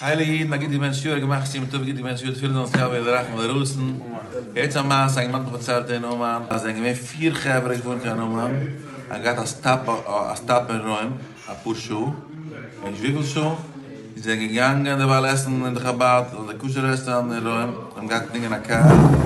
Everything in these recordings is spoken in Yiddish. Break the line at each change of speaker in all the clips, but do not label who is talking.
הייליגע אידן א גוטע מענטש יאר געמאכט סיום טוב גוט געבענטש יאר תפילין זאלן זיך אבי לרחם ולרסן יעצט א מעשה א גמח פארציילט אין אומאן אז זענען געווען פֿיר חברה געוואונט אין אומאן האבן געהאט א סטאפ א סטאפ אין רוים אפאר שעה און נישט וויפיל שעה און זיי זענען געגאנגען דערווייל עסן אין די חבד אדער כשר רעסטאראנט אין רוים זיי האבן געהאט געדינגען א קאר.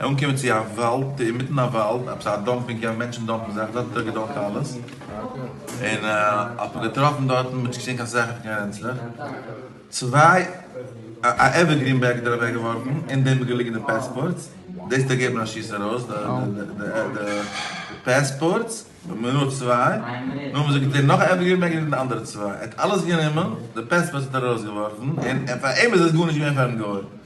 אנקומען צו א וואלד, אינמיטן א וואלד, עפעס א דאמפ, מען קען מענטשן דאמפן זאכן, דארט האט ער געדאמפט אלעס, און האט מען געטראפן דארטן, מען האט נישט געזען קיין זאכן פון קיין רענצלעך, צוויי, א עווערגרין בעג האט ער אוועק געווארפן, אין דעם איז געליגן די פעספארטס, דאס האט ערגעבן א שיס ארויס די פעספארטס, נאר צוויי, נאכדעם האט ער געזען נאך א עווערגרין בעג אין די אנדערע צוויי, ער האט אלעס גענומען, די פעספארטס האט ער ארויסגעווארפן, און פאר אים איז עס גארנישט געווען פארן גוי,